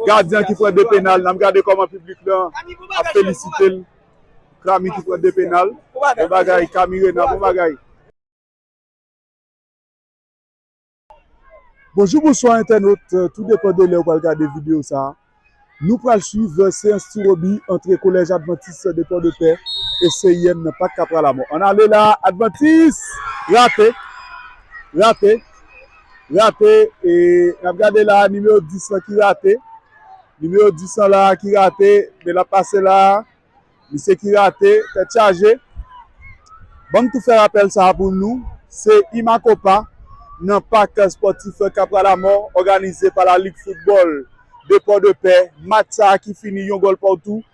Gardien ki pran 2 penal nap gade koman piblik lan ap felisitel Krami ki pran 2 penal bon bagay Kamirena bon bagay. Bonjou bonswa entènot tou depan de lèw pral gade video sa nou pral swiv seyans ti Roby antre kolèj advantis de pòdepè e CIM nan pak kapra lamò ann ale la advantis rate rate. rate e nap gade la nimewo 10 lan ki rate nimewo 10 lan la ki rate men lap pase la misye ki rate tèt chaje banm tou fè rapèl sa pou nou se imakopa nan pak spòtif kapralamò òganize pa la lig foutbòl de pòdepè match sa ki fini yon gòl poutou.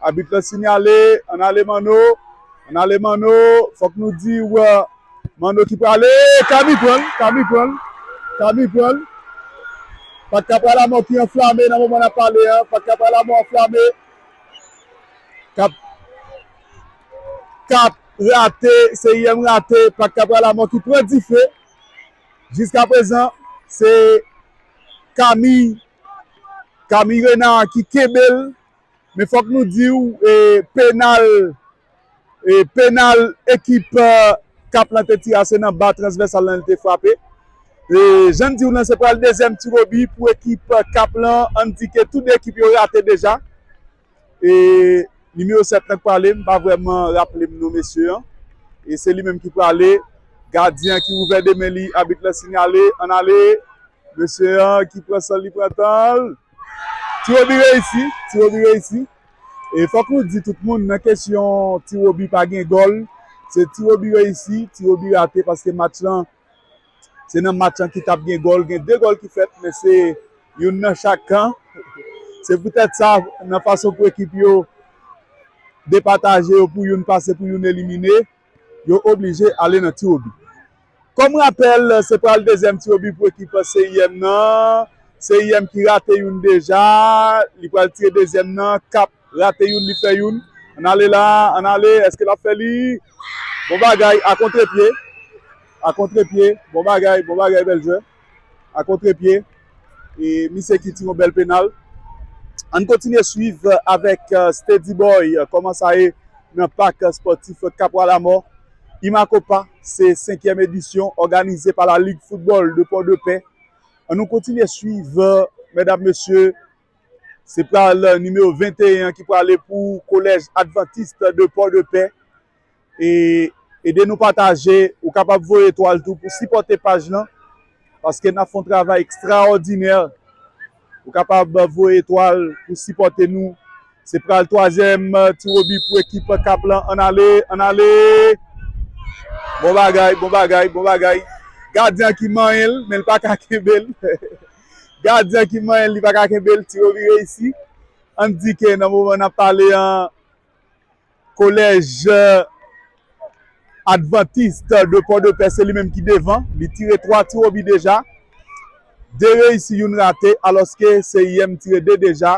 Abit lan sinyale, ann ale Manno, ann ale Manno, fòk nou di w Manno ki prale, Kami pran l, Kami pran l, Kami pran l, Pat Kapra Lamò ki anflame nan moman n ap pale an, Pat Kapra Lamò anflame, Kap, Kap rate, CIM rate, Pat Kapra Lamò ki pran dife, jiskaprezan se Kami, Kami Rena ki kenbe l. Men fòk nou di w penal penal ekip k ap plante ti a se nan ba transvèsal lan li te frape. Jan n di w lan se pral dezyèm tiwobi pou ekip Kap lan an di ke tou de ekip yo rate deja. Nimewo 7 lan k prale m pa vrèman raple m non mesye an. E se li menm ki prale gadyen ki ouvè de men li abit la sinyale an ale mesye an ki pran san l li pran tan l. Ti Roby reyisi, Ti Roby reyisi e fòk nou di tout moun nan kesyon Ti Roby pa gen gòl se Ti Roby reyisi, Ti Roby rate paske match lan se nan match lan ki tap gen gòl, gen 2 gòl ki fèt men se youn nan chak kan se poutèt sa nan fason pou ekip yo depataje yo pou youn pase pou youn elimine. yo oblije ale nan tirobi. Kòm rapèl, se pral dezyèm tirobi pou ekip CIM nan. CIM ki rate youn deja, li pral tire dezyèm nan. Kap rate youn, li fè youn. Ann ale la, ann ale, èske l ap fè li? Bon bagay, a kontrepye, a kontrepye, bon bagay, bon bagay, bèl jwè. a kontre pye e misye ki tiron bèl penal ann kontinye swiv avèk Steady Boy kòman sa ye nan pak spòtif Kapwa Lamò Imakopa se 5 èm edisyon òganize pa la lig foutbòl de Pòdepè ann nou kontinye swiv mèdam mesye se pral nimewo 21 an ki prale pou kolèj Adventiste de Pòdepè. e ede nou pataje ou kapab voye etwal tou pou sipòte paj lan paske nap fè yon travay ekstraòdinè ou kapab voye etwal pou sipòte nou se pral twazyèm ti wobi pou ekip kap lan ann ale ann ale bon bagay bon bagay bon bagay gadyen an ki manyen l men l paka kenbe l gadyen an ki manyen l li paka kenbe l ti wobi reyisi ann di ke nan moman nap pale an. Collège Adventiste de Port-de-Paix se li menm ki devan, li tire 3 tiwobi deja, 2 reyisi youn rate alòske CIM tire 2 deja,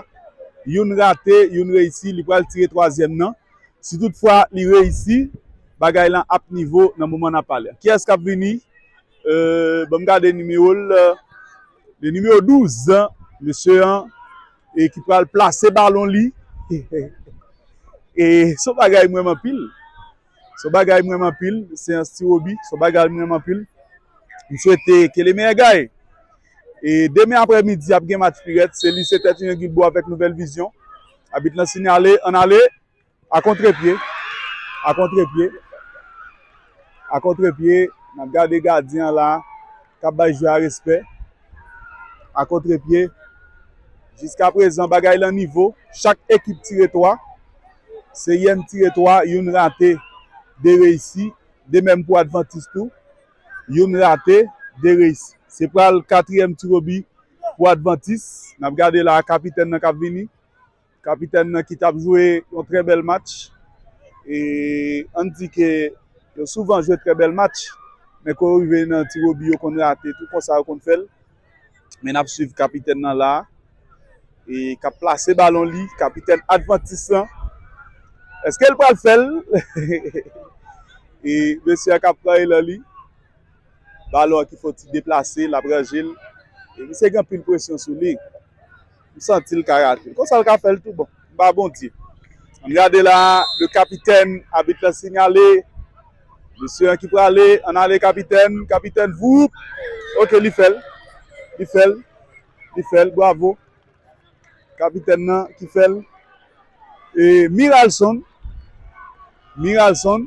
youn rate, youn reyisi, li pral tire twazyèm nan. Si tout fwa li reyisi, bagay lan ap nivo nan moman n ap pale a. Kiyès k ap vini? Ban m gade nimewo l, le numéro 12, mesye an. E ki pral plase balon li. E son bagay mwen man pil. Son bagay mwen man pil. Se yon sti wobi. Son bagay mwen man pil. M swete ke le meyè gaye. E demen apre midi ap gen match pirèt. Se li se tèt yon yon gilbo avèk nouvèl vizyon. Abit lan sinyale an ale. A kontre pye, a kontre pye, a kontre pye, nap gade gadyen an la kap bay jwè a respè, a kontre pye, jiska prezan bagay lan nivo, chak ekip tire 3, Seryèn tire 3, youn rate, 2 reyisi, de menm pou Advantis tou, youn rate, 2 reyisi. Se pral katriyèm tirobi pou Advantis, nap gade la kapitèn nan kap vini. Kapitèn nan ki tap jwe yon trè bèl match e ann di ke yo souvan jwe trè bèl match men kou yo rive nan tiwobi yo konn rate tou konsa yo konn fèl men nap swiv kapitèn nan la e kap plase balon li kapitèn advantis lan eske l pral fèl e mesye a kap pran elan li balon ki fon ti deplase lap ranje l misye gen anpil presyon sou li. m santi l ka rate l konsa l ka fè l tou bon m pa Bondye ann gade la le kapitèn abit la sinyale mesye an ki prale ann ale kapitèn kapitèn voup ok li fè l li fè l li fè l bwavo kapitèn nan ki fè l e miralson miralson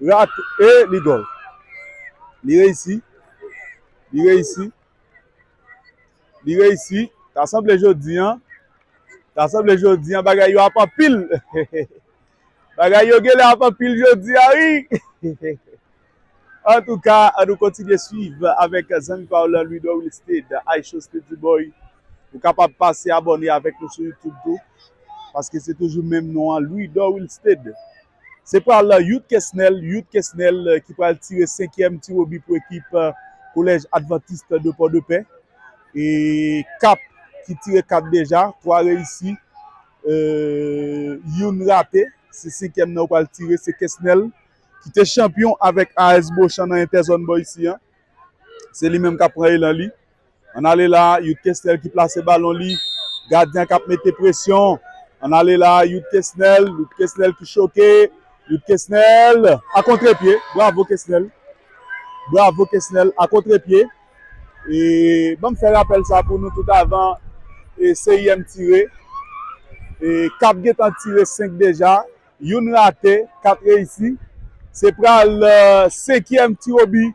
Rate e li gòl. Li reyisi. Li reyisi. Li reyisi. Ta sanble jodi an. Ta sanble jodi an bagay yo ap anpil. Bagay yo genle ap anpil jodi an wi. An tou ka, an nou kontinye swiv avèk zanmi pa ou lan Louidor Wilstede, Aycho Steady Boy. Ou kapab pase abòne avèk nou sou YouTube tou. Paske se toujou menm non an Louidor Wilstede. Se pral Youth Kesnel, Yout Kesnel, ki pral tire senkyèm tiwobi pou ekip Collège Adventiste de Port-de-Paix. E Kap ki tire 4 deja, 3 reyisi, youn rate. Se senkyèm nan yo pral tire, se Kesnel ki te chanpyon avèk AS Beauchamp nan Entèzòn bò isi an. Se li menm kap pran elan li. An ale la, Youth Kesnel ki plase balon li. Gadyen kap mete presyon. An ale la, Youth Kesnel. Youth Kesnel ki choke. Youth Kesnel a kontre pye. Bravo Kesnel. Bravo Kesnel a kontre pye. E banm fè rapèl sa pou nou tout avan CIM tire. E Kap gentan tire 5 deja. Youn rate, 4 reyisi. Se pral senkyèm tiwobi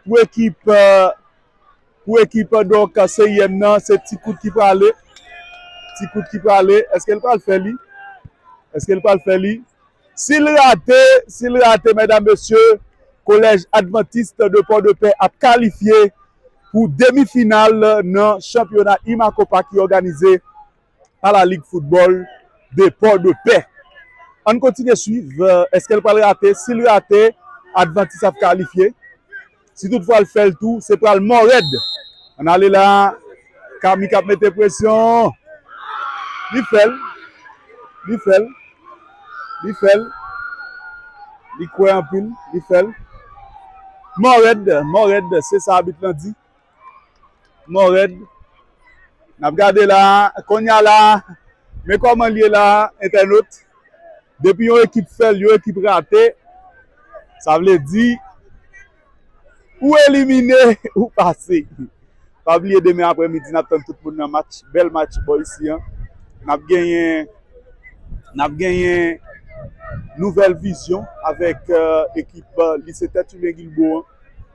pou ekip pou ekip donk seryèm nan. Se ti kout ki prale. Ti kout ki prale. Eske l pral fè li? Eske l pral fè li? Si l rate, si l rate medam mesye, kolèj Adventiste de Port-de-Paix ap kalifye pou demi final nan chanpyona IMACOPA ki òganize pa la Ligue Football de Port de Paix. Ann kontinye swiv, eske l pral rate? Si l rate, Adventiste ap kalifye. Si tout fwa l fè l tou, se pral mò rèd. Ann ale la, Kami k ap mete presyon. Li fè l, li fè l, li fè l. Li kwè anpil, li fè l. Mò rèd, mò rèd, se sa abit lan di. Mò rèd. Nap gade la, konya la, men kòman l ye la entènot. Depi yon ekip fè l, yon ekip rate, sa vle di ou elimine, ou pase. Pa bliye demen aprè midi nap tann tout moun nan match, bèl match bò isi an. Nap genyen, nap genyen Nouvèl Vizyon avèk ekip Lise Tèt Imen Guilbaud an.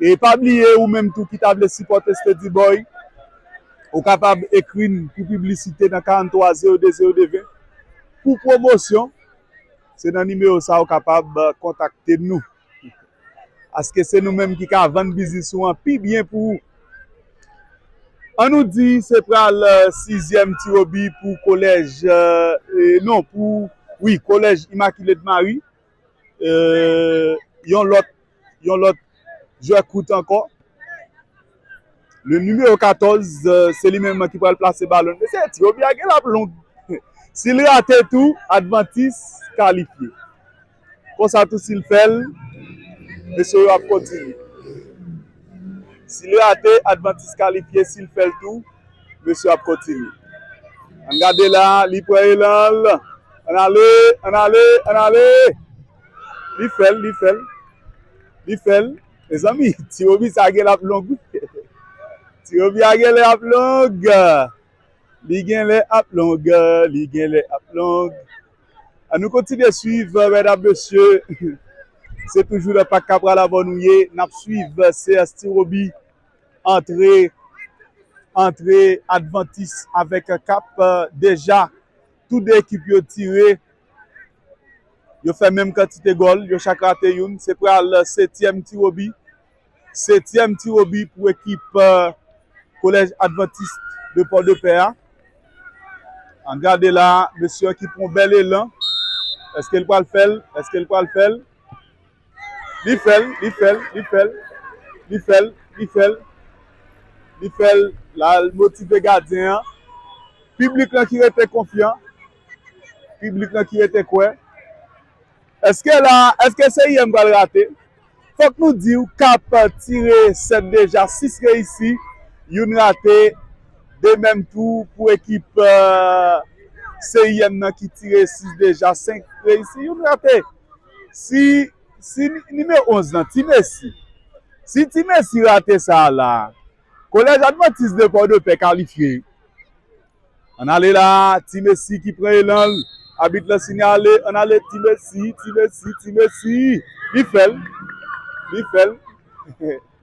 E pa bliye ou menm tou ki ta vle sipòte Steady Boy, ou kapab ekri n pou piblisite nan 43 02 02 20 pou pwomosyon, se nan nimewo sa ou kapab kontakte nou. Paske se nou menm ki ka vann biznis ou an pi byen pou ou. An nou di se pral sizyèm Ti Robi pou kolèj, non pou wi kolèj Imakile de Mari, Yon lòt Yon lòt jwè kout ankò Le numéro 14 Se li menm ki pral plase balon Mesye ti Obi a gen lap long Si l rate tou Advantis kalifye Konsa tou si l fè l Mesye yo ap kontinye Si l rate Advantis kalifye Si l fè l tou Mesye ap kontinye. An gade la, li pran elan l. An ale, an ale, an ale. Li fè l, li fè l. Li fè l. Mezanmi, ti Roby sa gen lè ap long wi. Ti Roby a gen lè ap long. Li gen lè ap long. Li gen lè ap long. An nou kontinye swiv, medam, mesye. Se toujou nan Pak Kapra la Bòn ou ye. N ap swiv seyans ti Roby. Antre antre advantis avèk kap deja tou 2 ekip yo tire yo fè menm kantite gòl yo chak rate youn se pral setyèm tiwobi setyèm tiwobi pou ekip kolèj advantis de pòdepè a an gade la mesye ki pran bèl elan èske l pral fèl èske l pral fèl. Li fèl, li fèl, li fèl, li fèl, li fèl, li fèl, lal motive gadyen an, piblik lan ki rete konfyan, piblik lan ki rete kwè, eske la, eske CIM pral rate, fòk nou di ou kap tire 7 deja 6 reyisi, youn rate, 2 menm tou pou ekip CIM nan ki tire 6 deja 5 reyisi, youn rate. Si si nimewo 11 lan Ti Mesi si Ti Mesi rate sa a la a Kolèj Advantis de Pòdepè kalifye. Ann ale la a Ti Mesi ki pran elan l Abit lan sinyale Ann ale Ti Mesi Ti Mesi Ti Mesi Li fè l Li fè l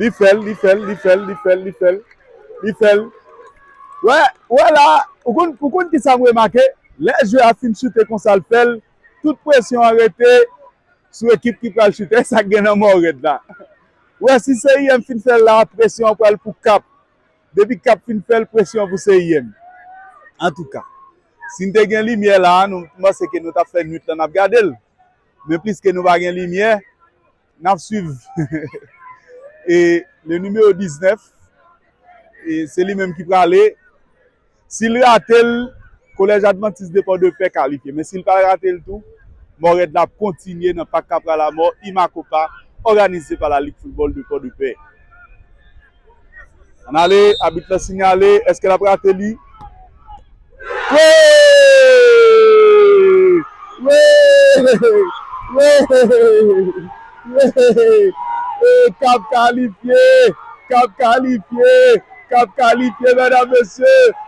Li fèl, li fèl, li fèl, li fèl, li fèl, li fèl. Wè, wè la, ou konn, ou konn kisa m remake? Lè jwe a fin choute konsa l fèl, tout presyon an rete sou ekip ki pral choute. E sa k gen nan Mòrèd la? Ou wè si CIM fin fèl la, presyon an pral pou Kap. Depi Kap fin fèl, presyon an pou CIM. Antouka, si n te gen limyè la, nou, m panse ke nou t ap fè nuit lan n ap gade l. Men pliske nou pa gen limyè. Nap swiv e le numero 19 e se li menm ki prale sil ratel kolèj advantis de pò de pè kalifye men sil pa ratel tou mòrèd la ap kontinye nan pak kapralamò imakopa òganize pa la lig foutbòl de pò de pè. Ann ale, abit la sinyale, eske l ap rate li? Wi! Wi! Wi! Wi! E k ap kalifye! K ap kalifye! K ap kalifye, medam mesye!